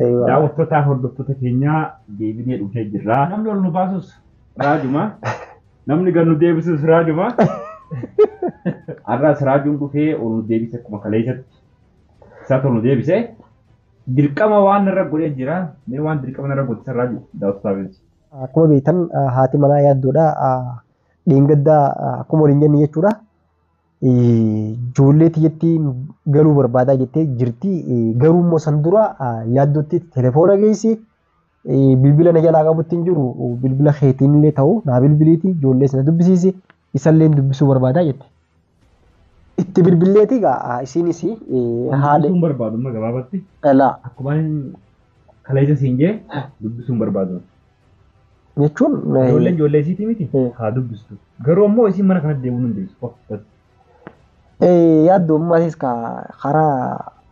Eeyyee. Daawwattoota hordoftoota keenyaa deebinee dhufnee jirra. Namni ol nu baasus raajuma. Namni gad nu deebisus raajuma. Har'as raajuun dhufee ol nu deebise akkuma kaleessatti. Isaatu ol nu deebise. Dirqama waan narra godhee jira. Mee waan dirqama narra godhe san raajuu daawwattootaaf ibsi. Akkuma beektan haati manaa yaaddoodha. Dheengaddaa akkuma waliin jenne jechuudha. Ijoollee tiyyatti galuu barbaadaa jettee jirti. Garuu immoo san dura yaaddootti telefoona geessi. Bilbila na jalaa qabutti hin jiru. Bilbila keetiin illee ta'u naa bilbiliiti. Ijoollees na dubbisiisi. Isallee dubbisuu barbaadaa jette. Itti bilbilleeti egaa isiinis haala. Dubbisuun barbaadu amma gabaabatti. Dhalaa. Akkuma kaleessa siin jee dubbisuun barbaadu. jechuun Ijoolleen ijoollee isiitii miti Hmm. haa dubbistu. Garuu ammoo isiin mana kanatti deebi'uu hin dandeessu. Of dhabdu. Eh, yaaddu ammaatiis ka karaa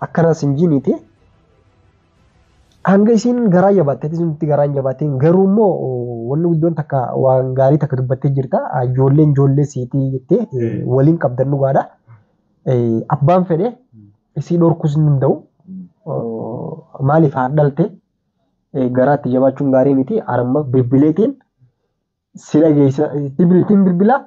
akkanas hin jiiniiti. Hanga isiin garaa jabaatte, ati sunti garaa hin jabaattiin. Garuu immoo wanni guddoon takka waan gaarii takka dubbattee jirta. Ah, Ijoolleen ijoollee siitii jettee eh, Mm. waliin qabdan dhugaadha. Eh, Abbaan fedhe isii dhorkuus hin danda'u. Mm. Oh, Maaliif haa dhalte? garaatti jabaachuun gaarii miti arma bilbileetiin si dhageessa itti biltiin bilbilaa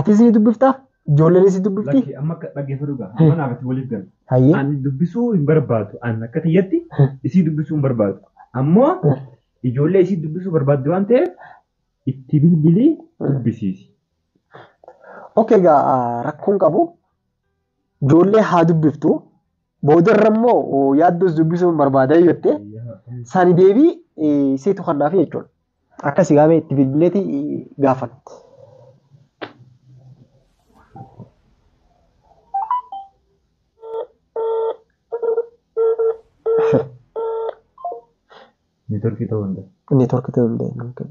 atis ni dubbiftaa ijoolleen si dubbifti Lakki amma akka dhaggeeffadhu gaa amma naaf itti waliif gala. hayyee Ani dubbisuu hin barbaadu. Ani akka tiyyatti isii dubbisuu hin barbaadu. Ammoo ijoollee isii dubbisuu barbaaddu waan ta'eef itti bilbilii dubbisiisi. okay gaa rakkoon qabu ijoollee haa dubbiftu Boodarra immoo yaaddoos dubbisuun barbaada yoo jette sani deebii seetu kannaaf jechuudha. Akkasii gaamee itti bilbileeti gaafan. Neetworkii ta'uu hin danda'u. Neetworkii ta'uu hin danda'u.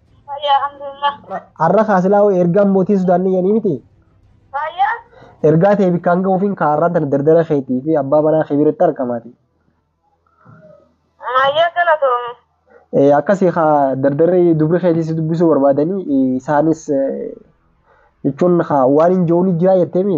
Fayyaa alhamdulillah. Har'a kaasilaa hoo ergaan mootiin Sudaan ni yanii miti. Fayyaa. Ergaa ta'e bikkaan ga'uufiin kaarraan tana dardara keetii fi abbaa manaa kee biratti argamaati. Maayyaa galatoomi. Eh, akkasii kaa dardarri dubri keetii si dubbisuu barbaadanii eh, isaanis eh, jechuun kaa waan hin jiruun jiraa jetteemi.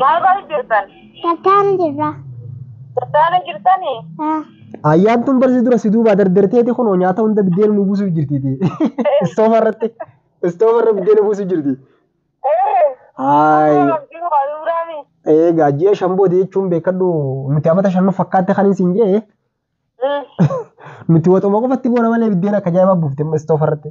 Maal gochuu jirtan? Tattaanu jirra. Tattaanu jirtanii? Ah. Ayyaantuun barsi dura si duubaa dardarteeti kunoo nyaata hunda biddeena nu buusuuf jirtiiti. Istoofa irratti istoofa irra biddeena buusuuf jirti. Haay. Egaa ji'a shan booda jechuun beekadhu nuti amata shan nu fakkaatte kan isin jee nuti waxuma qofatti boona malee biddeena akka jaa'ibaa buufte amma istoofa irratti.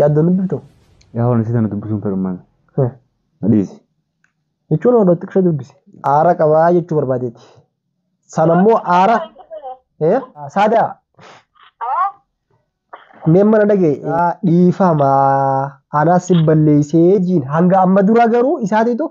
Yaaddoon dubbiftu? Yaa waan isii tana dubbisuun fedhummaan. Hmm. Na dhiisi. Jechuun odoo xiqqisha dubbise. Aara qabaa jechuu barbaadeeti. Sana immoo aara. Eh? Saadaa. Mee mana dhagee. Dhiifama. Anaa si balleessee jiin. Hanga amma dura garuu isaatiitu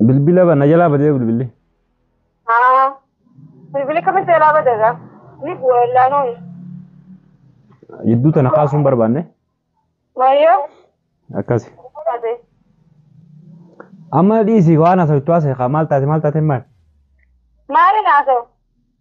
Bilbila ba- na jalaa badee bilbilli. Haa. Bilbili kami seelaa badara. Ni bu'a illaanoon. Jidduu tana kaasuu hin barbaanne. Mayyoo. Akkasi. Taate. Amma dhiisi waan haasawittu haasa'e kaa maal taate maal taate maal. Maali naasoo?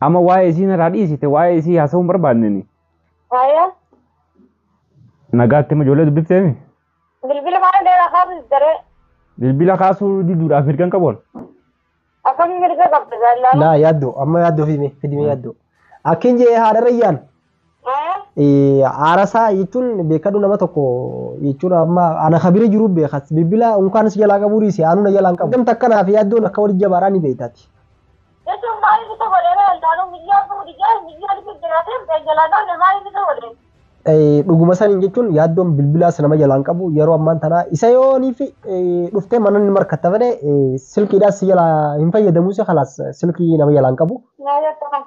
Amma waa'ee isii narraa dhiisite waa'ee isii haasa'uu hin barbaadneni. Haaya. Nagaatti amma ijoollee dubbifteemi. Bilbila maal dheeraa kaasuu daree. Bilbila kaasuu diduudhaaf mirga hin qabu. Akkamiin mirga qabda jaalladha. Laa yaaddoo amma yaaddoo fi fidimee yaaddoo. Akkin jee haadha rayyaan Aarasaa jechuun beekadhu nama tokko jechuun amma ana kabira jiru beekas bilbila unkaan si jalaa qabuu dhiise aanuu na jalaa hin qabu. Gamta akkanaaf yaaddoon akka walitti jabaadhaa ni beektaati. Jechuun maaliif isa godhee beekan taanuu miyyoo abbuu dhigee miyyoo dhigee jiraatee kan jalaa qabne maaliif isa godhee? Dhuguma saniin jechuun yaaddoon bilbilaas nama jalaa hin qabu yeroo ammaan tanaa isa yooniif dhuftee mana inni markatta fedhe silkiidhaas si jalaa hin fayyadamuus kalaas silkii nama jalaa hin qabu. Maaliif akka kana?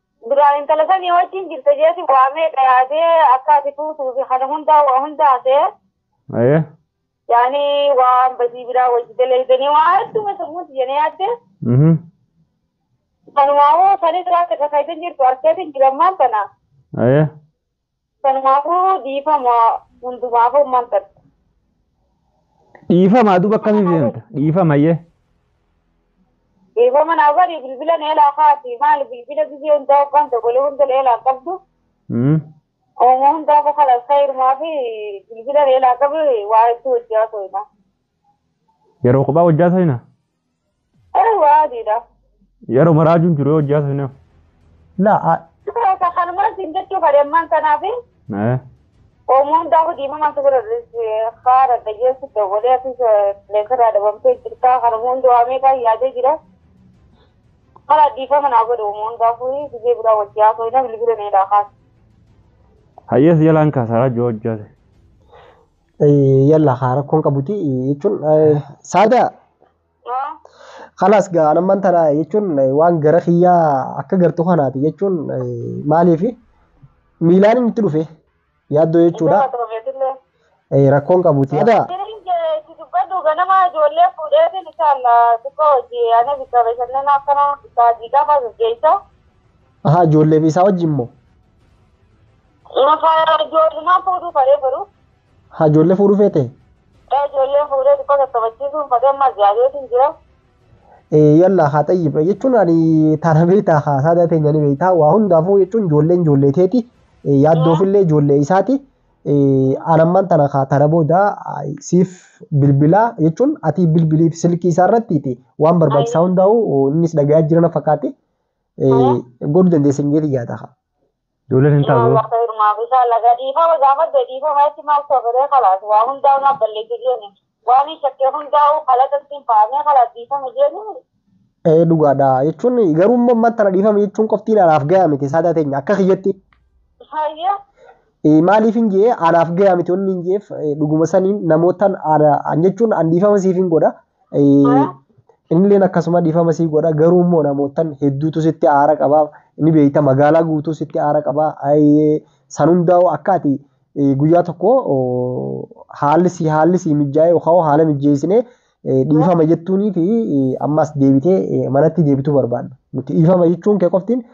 Duraa intala sanii wajjin jirta jeeti waamee dhayaatee akka ati fuutuu fi kana hundaa waa hunda hasee. Aye. Yaani waan badii biraa wajji dalaydanii waa hedduma sammuun tiyya na yaadde. Mhm. Kanumaafuu sanis waan takka kaydan jirtu arkeetin jira ammaan tana. Aye. Kanumaafuu dhiifama hundumaafuu maal tatta? Dhiifama duuba akkamiif deemta? Dhiifama yee. Dhiifama naa godhi bilbila na elaa kaati maal bilbila gizee hundaa hoggaan dogolee hunda na elaa qabdu. Mm. Ooma hundaa koo kalas kayirumaa fi bilbila na elaa qabi waa hedduu hojjaa soyinaa. Yeroo kophaa hojjaa soyina? Garuu waa adiidha. Yeroo maraajuun jiru yoo hojjaa seenaa. Laa a. Sukura isa kanumaan siin jechuu fadhe ammaan tanaaf Eh. oomoo hundaa hojii mamaa sukura haara dhaggeessu dawwalee ati leesarraa dhabamtee jirtaa kanuma hundi waa meeqaa yaadee jira. Mala dhiifama naa godhe oomoo hundaa furii biyya biraa wajjii haasoo hin bilbila meedaa kaas. Hayyees jalaan kaasaa raajoo hojjaa seenaa. Yalla haa rakkoon qabuti jechuun saadaa kalaas gaa anamman tana jechuun waan gara kiyyaa akka gartu kanaati jechuun maaliif miilaan inni itti dhufe yaaddoo jechuudha rakkoon qabuti saadaa. dubbadhu ganama ijoollee fuudheetiin isaalla xiqqoo hojii ana bikka bashannana akkana baadii qaba gaggeessa. Ahaa ijoollee isaa wajjin moo? Maka ijoollumaan fuudhuu fadhee garuu. Haa ijoollee fuudhuu feete? Ee ijoolleen fuudhee xiqqoo tattafachiisuun fadhee amma jaabeetiin jira. Yalla haa xayyib jechuun ani taana beektaa haa saadaa teenya ni beektaa waa hundaafuu jechuun ijoolleen ijoollee teeti yaaddoofillee ijoollee isaati. Anammaan tana kaa tana booda siif bilbilaa jechuun ati bilbiliif silkii isaa irratti waan barbaachisaa hundaa'u innis dhagayaa jirana fakkaate godhu dandeessan jeeti yaada haa. Ijoolleen hin taatu. Inshallah khayr maaf inshallah gadiifama gaafadde dhiifama itti maaf soofiree khalaas waa hundaa'u naaf balleessi jeeni waan hin shakkee hundaa'u khalaqa ittiin fahamee khalaas dhiifama jeeni Ee dhugaadha jechuun garuu immoo ammaan tana dhiifama jechuun qoftiin anaaf gayaa miti saadaa teenya akka kiyyatti hayya Eh, maaliif hin jee anaaf gayaa miti wanni hin jeef eh, dhuguma saniin namootaan ana an jechuun an dhiifama siif hin godha Innilleen akkasuma dhiifama sii godha garuu immoo namoottan hedduutu sitti aara qaba ni beekta magaalaa guutuu sitti aara qaba san hundaa'u akka ati guyyaa tokko haalli sii haalli sii mijaa'ee yookaan haala mijeessinee dhiifama jettuunii fi ammas deebitee manatti deebituu barbaadna nuti dhiifama jechuun kee qoftiin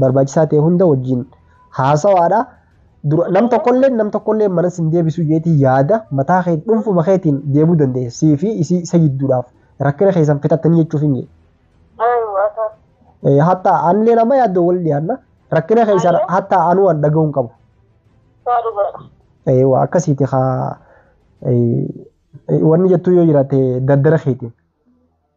barbaachisaa ta'e hunda wajjin haasawaadha. Dura nam tokkollee nam tokkollee mana sin deebisu jeetii yaada mataa kee dhuunfuma keetiin deebuu dandeessa. Sii fi isii isa jidduudhaaf rakkina keessan fixattanii jechuuf hin jedhe. Hatta anillee nama yaaddoo wal dhiyaanna rakkina keessan hatta anuu waan dhaga'uu hin qabu. Eewa akkasiiti haa wanni jettuu yoo jiraate daddara keetiin.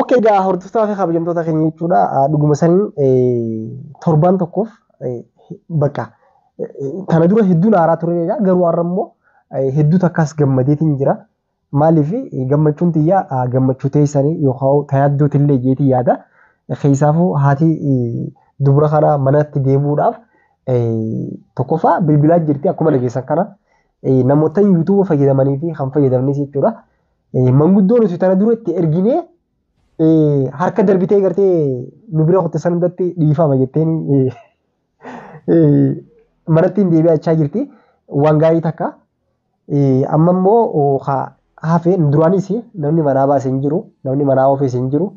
Ok egaa hordoftoota fi kabajamtoota keenya jechuudha. Dhuguma saniin torbaan tokkoof bakka kana dura hedduun haaraa ture egaa garuu har'a immoo hedduu takkaas gammadeetiin jira. Maaliif gammachuun tiyya gammachuu teessanii yookaan tayaaddoo tillee jeetii yaada. Keessaafuu haati dubra kana manatti deebi'uudhaaf tokkoffaa bilbilaa jirti akkuma dhageessan kana namoota yuutuuba fayyadamanii fi kan fayyadamnis jechuudha. Manguddoo nuti tana dura itti erginee harka darbitee gartee nu bira kutte san hundatti dhiifama jetteen manatti hin deebi'achaa jirti. Waan gaarii takka. Amma immoo hafe duraanis namni manaa baase hin jiru namni manaa oofes hin jiru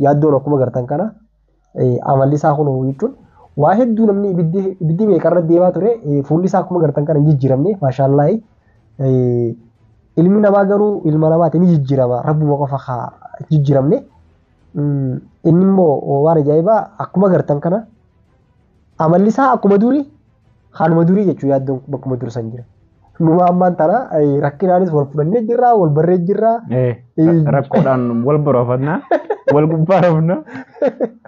yaaddoon akkuma gartan kana. amalli isaa kun jechuun waa hedduu namni ibiddi ibiddi meeqa irra deemaa ture fuulli isaa akkuma gartan kana hin jijjiiramne maashaallaahi ilmi namaa garuu ilma namaati ni jijjiirama rabbuma qofa haa jijjiiramne inni immoo waan ajaa'ibaa akkuma gartan kana amalli isaa akkuma durii Kanuma durii jechuun yaaddoon bakkuma dur san jira. Numa ammaan tana eh, rakkinaanis wal fudhannee jirra, wal barree jirra. Eh, Eh. rakkoodhaan wal boroofanna wal gubbaa rafna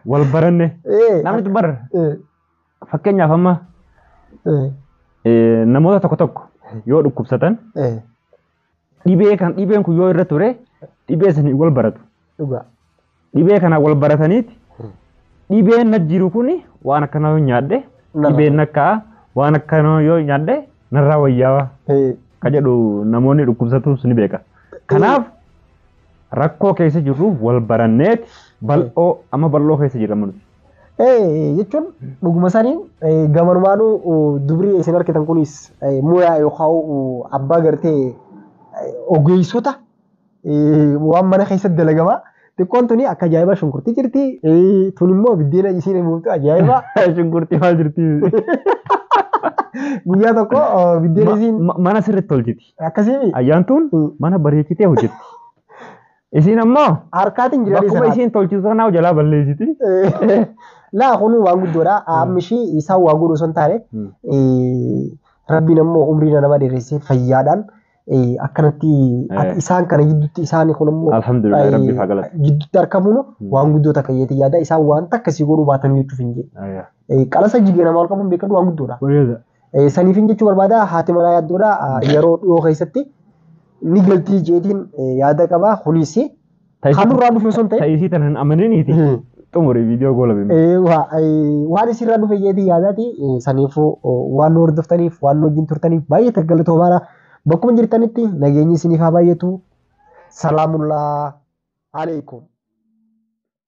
wal baranne Eh, namni bar eh, fakkeenyaaf amma eh, eh, namoota tokko tokko yoo dhukkubsatan eh, dhibee kan dhibeen kun yoo irra ture dhibee saniin wal baratu. Dhugaa. Dhibee kana wal barataniiti dhibeen na jiru kun waan akkana yoo nyaadhe Narra dhibeen akka waan akkana yoo nyaadhe narraa wayyaawaa Ee, ka jedhu namoonni dhukkubsatuus ni beeka. Kanaaf rakkoo keessa jirruuf wal baranneeti bal'oo amma bal'oo keessa jirra nuti. jechuun dhuguma saniin gamanumaanuu dubrii isin arkitan kunis muyaa yookaan abbaa gartee ogeessota waan mana keessatti dalagamaa xiqqoon tuni akka ajaa'ibaa shunkurtii jirti tun immoo biddeena isiin muuftu ajaa'ibaa shunkurtii maal jirti guyyaa tokko biddeena isiin mana sirriitti tolchiti akkasii ayyaantuun mana bareechitee hojjetti Isiin ammoo Harkaatiin jira bakkuma dhiisaa. isiin tolchitu sanaa jalaa balleessiti. Laa kun waan guddoodha. Amma ishii isaan waa godhu osoo hin taane eh, rabbiin ammoo umrii nama dheeressee fayyaadhaan eh, akkanatti Eh. isaan kana gidduutti isaan kun ammoo Alhamdulillah eh, rabbi faa galata. gidduutti argamuun Hmm. waan guddoo takka jeetii yaada isaan waan takka sii godhuu baatan jechuuf hin jedhu. Qalasa jigee nama ol qabuun beekadhu waan guddoodha. Bareeda. Eh, Saniifin jechuu barbaada haati manaa yaaddoodha eh, yeroo dhiyoo keessatti ni galtii jeetiin eh, yaada qaba kunis kan nurraa dhufe osoo hin ta'in Ta'isii tan hin amaniniiti. Hmm. Xumuri viidiyoo goolabee. Eh, wa- eh, waan isirraa dhufe jeetii yaadaati eh, saniifuu oh, waan nu hordoftaniif waan nu wajjin turtaniif baay'ee galatoomna bakkuma jirtanitti nageenyi isiniif haa baay'atu salaamullaa alaikum